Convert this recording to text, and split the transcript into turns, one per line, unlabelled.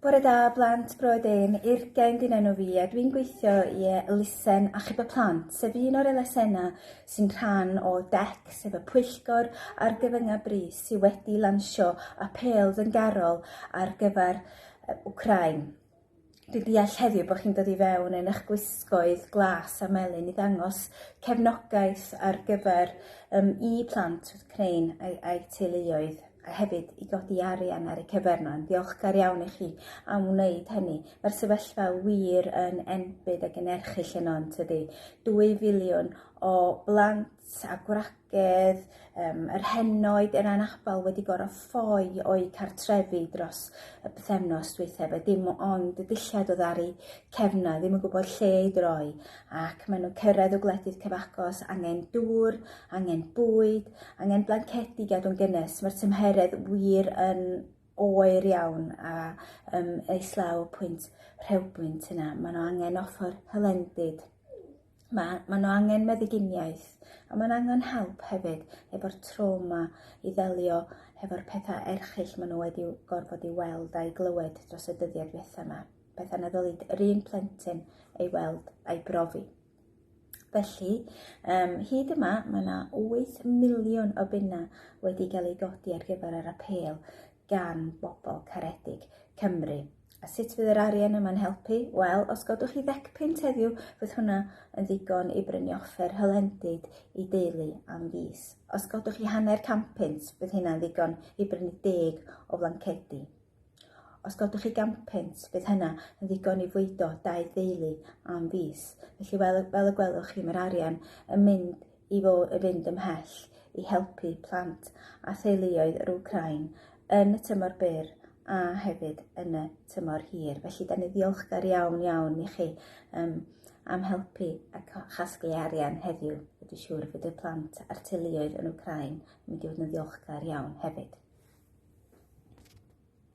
Bore da, blant, broed ên, Urgen dyn enw fi a dwi'n gweithio i elusen achub y plant, sef un o'r elusennau sy'n rhan o DEC, sef y pwyllgor ar gyfyngau brys sydd wedi lansio apêl fyngarol ar gyfer Ukraine. Dwi'n deall heddiw bod chi'n dod i fewn yn eich gwisgoedd glas a melyn i ddangos cefnogaeth ar gyfer um, i plant wrth Crain a'i, a'i teuluoedd a hefyd i godi arian ar y cyferna. Yn ddiolchgar iawn i chi am wneud hynny. Mae'r sefyllfa wir yn enbyd ac yn erchyll yno yn tydi. 2 filiwn o blant a gwragedd, um, yr henoed yn anabl wedi gorau ffoi o'i cartrefi dros y bythefnos dweitha, fe dim ond y dillad o ddari cefna, ddim yn gwybod lle i droi, ac maen nhw'n cyrraedd o gwledydd cyfagos, angen dŵr, angen bwyd, angen blancedi gadw'n gynnes, mae'r tymheredd wir yn oer iawn a um, eislaw pwynt rhewbwynt yna. Maen nhw angen offer hylendid Mae, mae nhw angen meddyginiaeth, a mae'n angen help hefyd efo'r trauma i ddelio hefo'r pethau erchill maen nhw wedi gorfod i weld a'i glywed dros y dyddiau diwethaf yma, pethau na ddylid yr un plentyn ei weld a'i brofi. Felly, um, hyd yma, mae yna 8 miliwn o bunna wedi cael ei godi ar gyfer yr apel gan bobl caredig Cymru. A sut fydd yr arian yma'n helpu? Wel, os godwch chi ddecpunt heddiw, fydd hwnna yn ddigon i brynu offer hylendid i deulu am fis. Os godwch chi hanner canpunt, bydd hynna'n ddigon i brynu deg o flancedi. Os godwch chi ganpunt, bydd hynna yn ddigon i fwydo dau deulu am fis. Felly, fel, fel y gwelwch chi, mae'r arian yn mynd i fod yn fynd ymhell i helpu plant a theuluoedd yr Wcráin yn y tymor byr a hefyd yn y tymor hir. Felly, da ni ddiolchgar iawn, iawn i chi um, am helpu a chasglu arian heddiw. Wedi siŵr fod y plant a'r teuluoedd yn Wcráin yn mynd i fod yn ddiolchgar iawn hefyd.